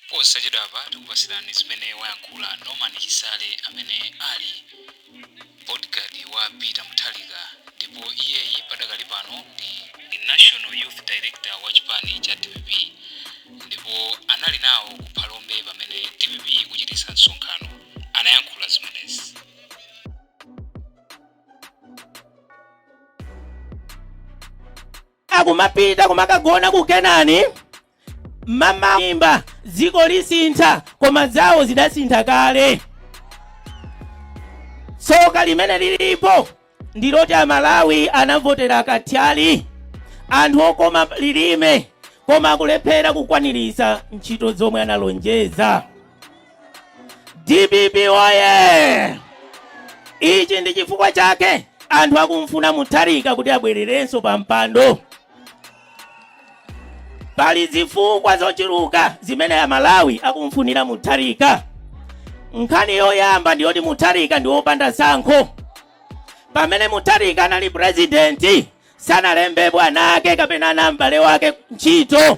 Posachedwapa tikupatsirani zimene wayankhula Norman Chisale amene ali bodyguard wa Peter Mutharika ndipo iyeyi padakali pano ndi ndi National Youth Director wa chipani cha dpp ndipo anali nawo ku Phalombe pamene dpp ikuchititsa msonkhano. Anayankhula zimenezi. Akumapita kumakagona ku Kenani, kumaimba dziko lisintha, koma zawo zidasintha kale. Tsoka limene lilipo ndiloti Amalawi anavotera kathyali, anthu okoma lilime, koma akulephera kukwaniritsa ntchito zomwe analonjeza. dpp oye ichi ndi chifukwa chake anthu akumfuna mutharika kuti abwererenso pa mpando pali zifukwa zochuluka zimene amalawi akumfunira mutharika nkhani yoyamba ndiyoti mutharika ndi wopanda tsankho pamene mutharika anali purezidenti sanalembe mwana wake kapena m'bale wake ntchito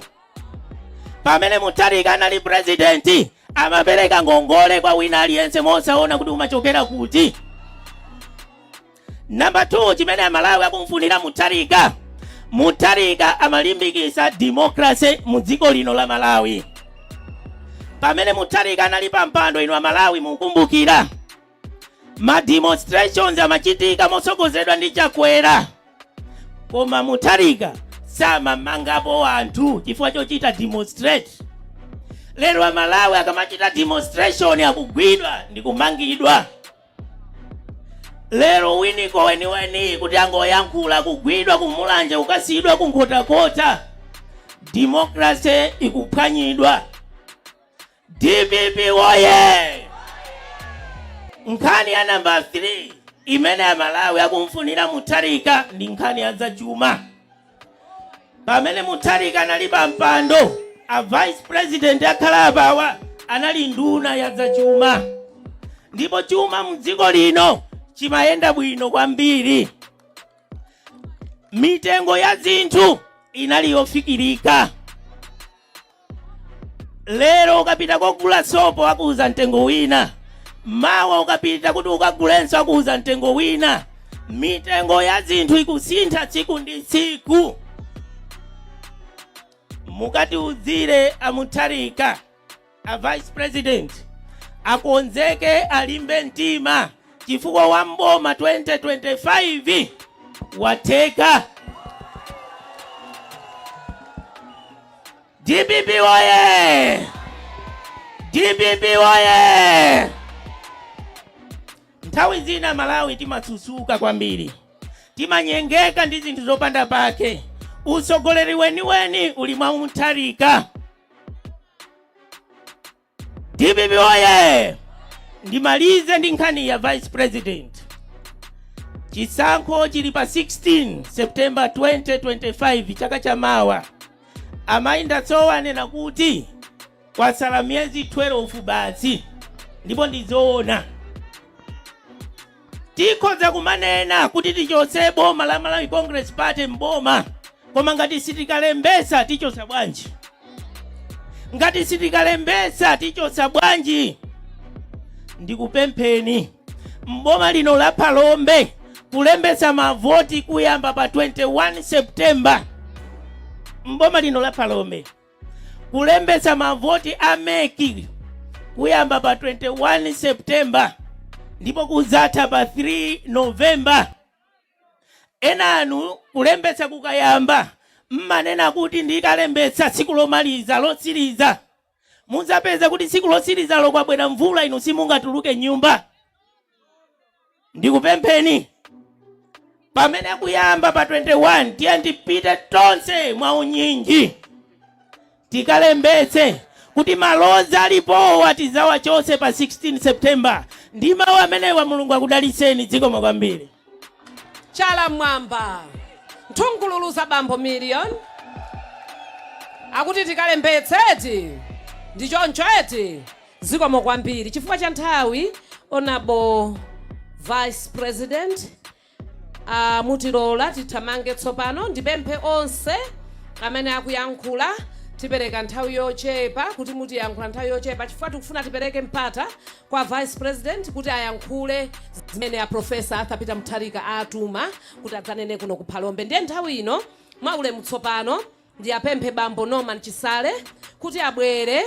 pamene mutharika anali purezidenti amapereka ngongole kwa wina aliyense mosaona kuti umachokera kuti namba 2 chimene amalawi akumfunira mutharika mutharika amalimbikisa demokrase mu dziko lino la malawi pamene mutharika anali pa mpando inu amalawi mukumbukira ma demonstrations amachitika motsogozedwa ndi chakwera koma mutharika samamangapo anthu chifukwa chochita demonstrate lero amalawi akamachita demonstration akugwidwa ndi kumangidwa lero winiko weniweni kuti angoyankhula akugwidwa kumulanje kukasiyidwa kunkhotakota demokrase ikuphwanyidwa Dpp woye! Nkhani ya namba 3 imene Amalawi akumfunira Mutharika ndi nkhani ya zachuma. Pamene Mutharika anali pa mpando, a vice president akhala apawa anali nduna ya zachuma, ndipo chuma mdziko lino chimayenda bwino kwambiri. Mitengo ya zinthu inali yofikirika. lero ukapita kogula sopo akuuza mtengo wina mawa ukapita kuti ukagulenso akuuza mtengo wina mitengo ya zinthu ikusintha tsiku ndi tsiku mukatiuzire amutharika a vice president akonzeke alimbe mtima chifukwa wa m'boma 2025 watheka. DPP woye! DPP woye! Nthawi zina Malawi timasusuka kwambiri, timanyengeka ndi zinthu zopanda pake. Utsogoleri weniweni uli mwa Mutharika. dpp woye ndimalize ndi nkhani ya vice president chisankho chili pa 16 september 2025 chaka cha mawa amayi ndatsowa anena kuti kwatsala miyezi 12 basi ndipo ndizoona Tikhoza kumanena kuti tichotse boma la Malawi Congress Party m'boma koma ngati sitikalembetsa tichotsa bwanji? Ngati sitikalembetsa tichotsa bwanji? Ndikupempheni m'boma lino la Phalombe kulembetsa mavoti kuyamba pa 21 September m'boma lino la Phalombe. Kulembetsa mavoti a mec kuyamba pa 21 September ndipo kudzatha pa 3 November. Enanu kulembetsa kukayamba mmanena kuti ndikalembetsa tsiku lomaliza lotsiriza, mudzapeza kuti tsiku lotsirizalo kwabwera mvula, inu simungatuluke m'nyumba. ndikupempheni pamene akuyamba pa 21 tiyeni tipite tonse mwa unyinji tikalembetse kuti malodzi alipowa tidzawachotse pa 16 september ndi mawu amenewa mulungu akudalitseni zikomo kwambiri chala mmwamba nthungululu za bambo Miliyoni akuti tikalembetse eti ndi choncho eti Zikomo kwambiri chifukwa cha nthawi Hon Vice President aah mutilola tithamange tsopano ndipemphe onse amene akuyankhula tipereka nthawi yochepa kuti muziyankhula nthawi yochepa chifukwa tikufuna tipereke mpata kwa Vice President kuti ayankhule zimene a Prof. Arthur Peter Mutharika awatuma kuti adzanene kuno ku Phalombe ndiye nthawi ino mwaulemu tsopano Ndiapemphe bambo Norman Chisale kuti abwere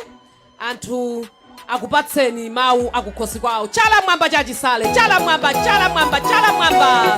athu akupatseni mau akukhosi kwao. Chala mmwamba cha Chisale! Chala mmwamba! Chala mmwamba! Chala mmwamba!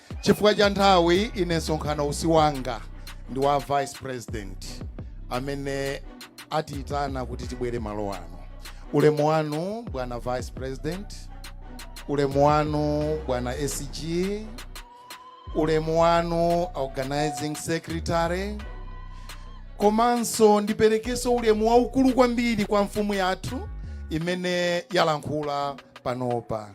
Chifukwa cha nthawi, ine msonkhanowu si wanga, ndi wa Vice President amene atiitana kuti tibwere malo ano. Ulemu wanu bwana Vice President, ulemu wanu bwana SG, ulemu wanu Organizing Secretary, komanso ndiperekenso ulemu waukulu kwambiri kwa mfumu yathu imene yalankhula panopa.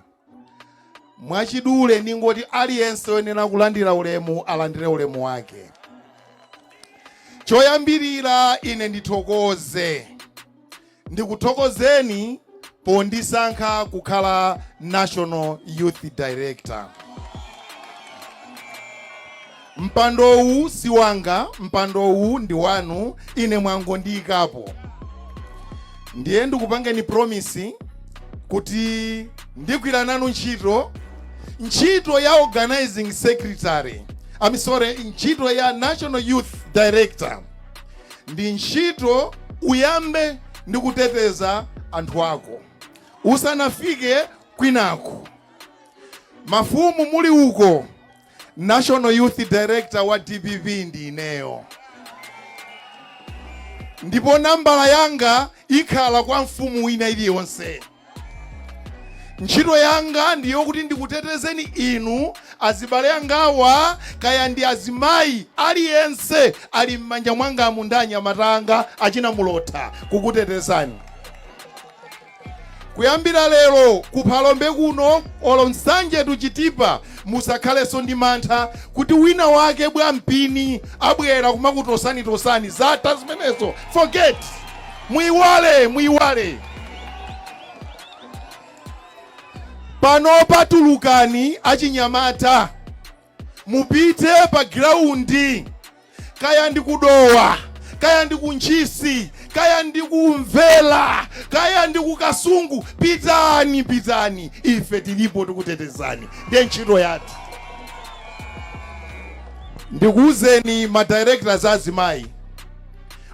Mwachidule ndingoti aliyense oyenera kulandira ulemu alandire ulemu wake. Choyambirira ine ndithokoze, ndikuthokozeni pondisankha kukhala National Youth Director. Mpandowu si wanga, mpandowu ndi wanu, ine mwangondiikapo. Ndiye ndikupangeni promise kuti ndigwira nanu ntchito, ntchito ya Organising Secretary, I'm sorry, ntchito ya National Youth Director ndi ntchito uyambe ndi kuteteza anthu ako usanafike kwinako. Mafumu muli uko National Youth Director wa DPP ndi ineyo, ndipo nambala yanga ikhala kwa mfumu ina iliyonse. Ntchito yanga ndiyo kuti ndikutetezeni inu azibale angawa, kaya ndi azimayi aliyense ali m'manja mwangamu ndi anyamata anga achina Mulotha kukutetezani. Kuyambira lero ku Phalombe kuno olo Nsanje to Chitipa musakhaleso ndi mantha kuti wina wake bwa mpini abwera kumakutosanitosani zatha zimenezo forget muiwale muiwale pano patulukani achinyamata Mupite pa giraundi, kaya ndi ku Dowa, kaya ndi ku Ntchisi, kaya ndi ku Mvera, kaya ndi ku Kasungu, pitani, pitani, ife tilipo tikutetezani. Ndiye ntchito yathu. Ndikuwuzeni ma directors azimayi,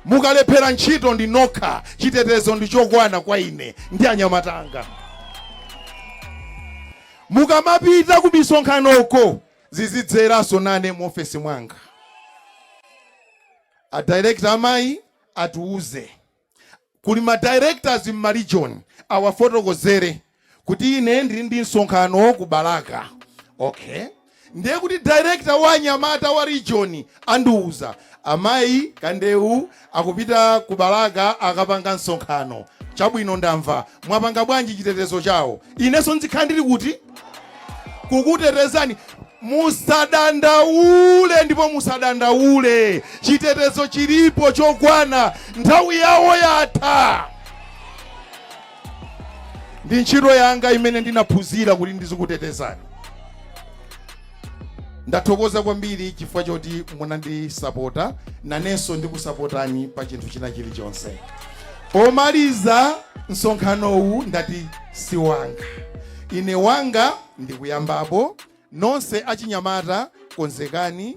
mukalephera ntchito ndi nokha, chitetezo ndi chokwana kwa ine ndi anyamata anga. Mukamapita kumisonkhanoko zizidzeranso nane muofesi mwanga. A director amayi atiuze. Kuli ma directors m'ma region awafotokozere kuti ine ndili ndi msonkhano ku Balaka. Okay. Ndiye kuti director wa anyamata wa region andiuza Amayi Kandewu akupita ku Balaka akapanga msonkhano. Chabwino ndamva. Mwapanga bwanji chitetezo chawo? Inenso nzikhala ndili kuti? Kukutetezani. Musadandaule ndipo musadandaule. Chitetezo chilipo chokwana. Nthawi yawo yatha. ndi ntchito yanga imene ndinaphunzira kuti ndizikutetezani ndathokoza kwambiri chifukwa choti munandisapota nanenso ndikusapotani pa chinthu china chilichonse pomaliza msonkhanowu ndati si wanga ine wanga ndikuyambapo nonse achinyamata konzekani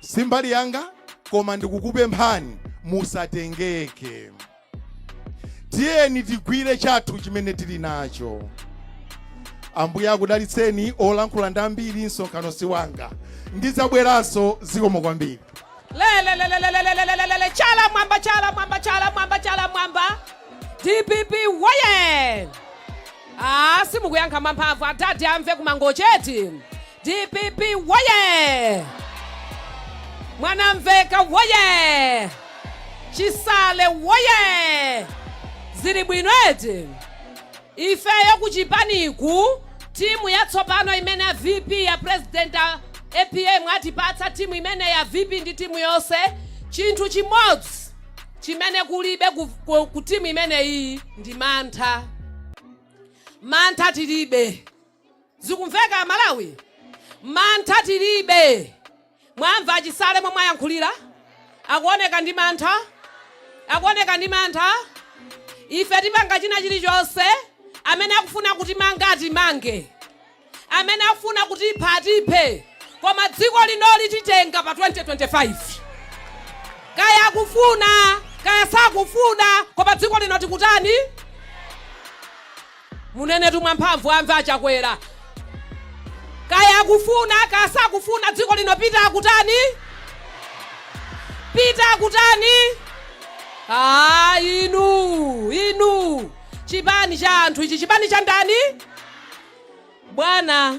simbali yanga koma ndikukupemphani musatengeke tiyeni tigwire chathu chimene tili nacho ambuye akudalitseni olankhula ndi ambiri msonkhano si wanga ndidzabweranso zikomo kwambiri lelelelelelelelelelele chala mwamba chala mwamba chala mwamba chala mwamba dpp woye a simukuyankha mwamphamvu adadi amve kumangocheti Dpp woyee! Mwanamveka woyee! Chisale woyee! Zili bwino eti? Ifeyo kuchipaniku timu yatsopano imene ya VP ya president a apm atipatsa timu imeneyi ya VP ndi timu yonse, chinthu chimodzi chimene kulibe ku, ku, ku timu imeneyi ndi mantha. Mantha tilibe. Zikumveka amalawi? Mantha tilibe. Mwamva achisale momwe ayankhulira? Akuoneka ndi mantha? Akuoneka ndi mantha? Ife tipanga china chilichonse. Amene akufuna kutimanga atimange. Amene akufuna kutipha atiphe. Koma dziko linoli titenga pa 2025. Kaya akufuna, kaya sakufuna, koma dziko lino tikutani? Munenetu mwamphamvu amve achakwera. Kaya akufuna kaya sakufuna dziko lino peter akutani? Peter akutani? Aaa inuu inuu chipani cha anthu ichi chipani cha ndani? Bwana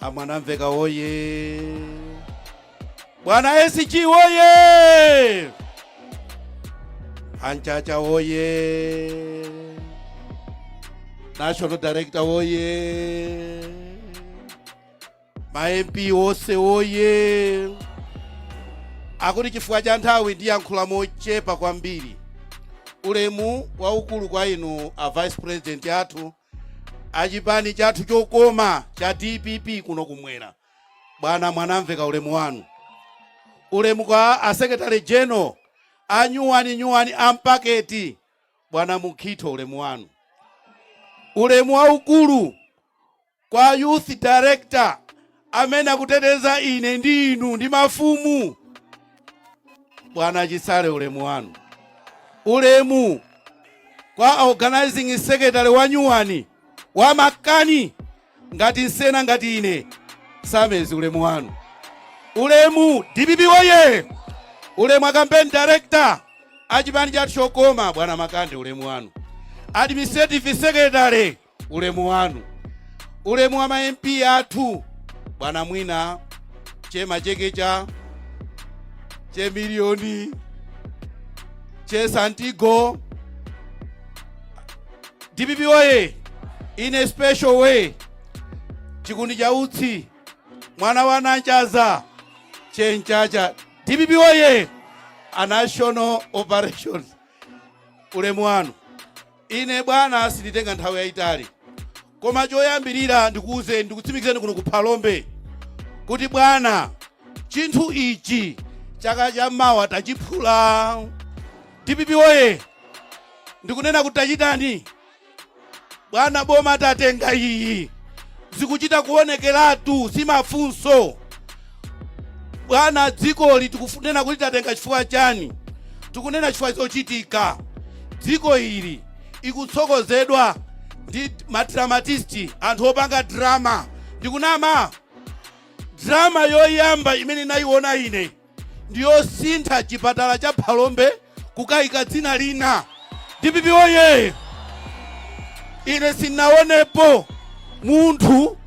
amwanamveka woye bwana sg woye anchacha woye national director woye ma mp wose woye akuti chifukwa cha nthawi ndiyankhula mochepa kwambiri ulemu waukulu kwa inu a vice president athu achipani chathu chokoma cha dpp kuno kumwera bwana mwanamvekha ulemu wanu ulemu kwa a secretary general anyuwani nyuwani ampaketi bwana mukhito ulemu wanu ulemu waukulu kwa youth director amene akuteteza ine ndi inu ndi mafumu bwana chisale ulemu wanu ulemu kwa organizing secretary wanyuwani wa makani ngati nsena ngati ine sameer suleman ulemu dpp woye ulemu a campaign director achipani chathu chokoma bwana makande ulemu wanu administrative secretary ulemu wanu ulemu wa ma mp athu bwana mwina che machekecha che milioni che santigo dpp oye in a special way chikuni cha utsi mwana wa nanchaza che mchacha dpp oye a national operations ulemu wanu Ine, bwana, sinditenga nthawi yayitali, koma choyambirira ndikuuzeni, ndikutsimikizireni kuno ku Phalombe kuti, bwana, chinthu ichi chaka cha mawa tachiphula. Dpp woye! Ndikunena kuti tachitani, bwana, boma tatenga iyi, zikuchita kuonekeratu, si mafunso. Bwana, dzikoli tikunena kuti tatenga chifukwa chani? Tikunena chifukwa chochitika. Dziko ili likutsogozedwa ndi madramatist, anthu opanga drama. Ndikunama? Drama yoyamba imene nayiona ine ndiyosintha chipatala cha Phalombe kukaika dzina lina dpp oye ine sinaonepo munthu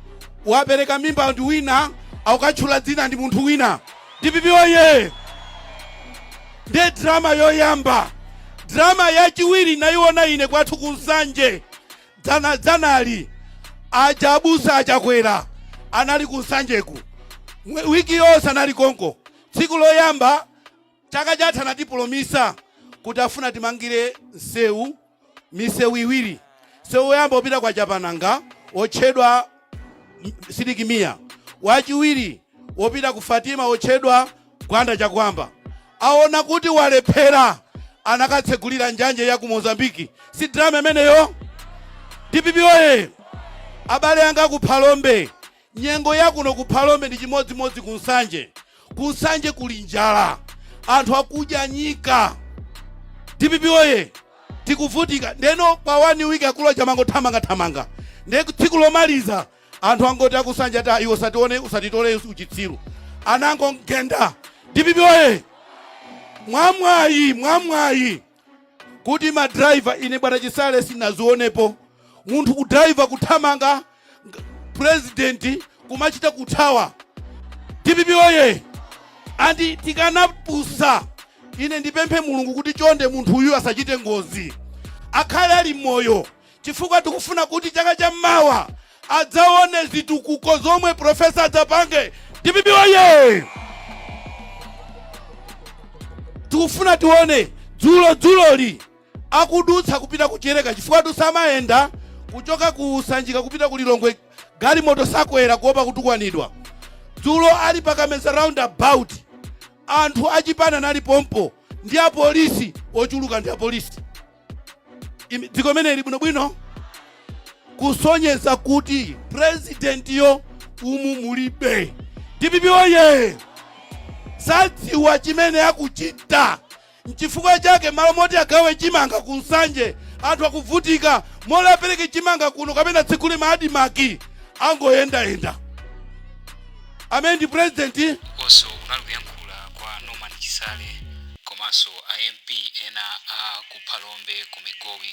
wapereka mimba ndi wina akukatchula dzina ndi munthu wina dpp oye ndiye drama yoyamba drama yachiwiri nayiona ine kwathu ku nsanje dzanali aja abusa a chakwera anali ku nsanjeku wiki yonse anali konko tsiku loyamba Chaka chatha anatipulomisa kuti afuna atimangire nseu miseu iwiri nseu woyamba wopita kwa chapananga wotchedwa sidik mia wachiwiri wopita ku fatima wotchedwa gwanda chakuamba aona kuti walephera anakatsegulira njanje ya ku mozambiki si drama imeneyo dpp oye abale anga ku phalombe Nyengo ya kuno ku Phalombe ndi chimodzimodzi ku Nsanje. Ku Nsanje kuli njala, anthu akudya nyika. Dpp woye! Tikuvutika ndeno pa one week akulu aja amangothamanga thamanga, nde tsiku lomaliza anthu angoti a ku Nsanje ati iwe usatione usatitole uchitsiru anangomgenda. Dpp woye! Mwamwayi, mwamwayi kuti ma driver ine bwana chisale sinazionepo munthu ku driver kuthamanga president kumachita kuthawa dpp oye andi tikanapusa ine ndipemphe mulungu kuti chonde munthu uyu asachite ngozi akhale ali moyo chifukwa tikufuna kuti chaka cha mmawa adzaone zitukuko zomwe profesa adzapange. Dpp woyee! tikufuna tione dzulo dzuloli akudutsa kupita ku Chileka chifukwatu samayenda kuchoka ku Sanjika kupita ku Lilongwe galimoto sakwera kuopa kutukwanidwa. Dzulo ali pa Kameza roundabout anthu achipani anali pompo ndi apolisi ochuluka ndi apolisi. Imi- dziko imene ili bwinobwino kusonyeza kuti purezidentiyo umu mulibe dpp oye sadziwa chimene akuchita nchifukwa chake malo moti agawe chimanga ku nsanje anthu akuvutika malo apereke chimanga kuno kapena atsegule ma admarc angoyendayenda amene ndi president ukonso kunali kuyankhula kwa norman chisale komanso a mp ena a ku phalombe ku migowi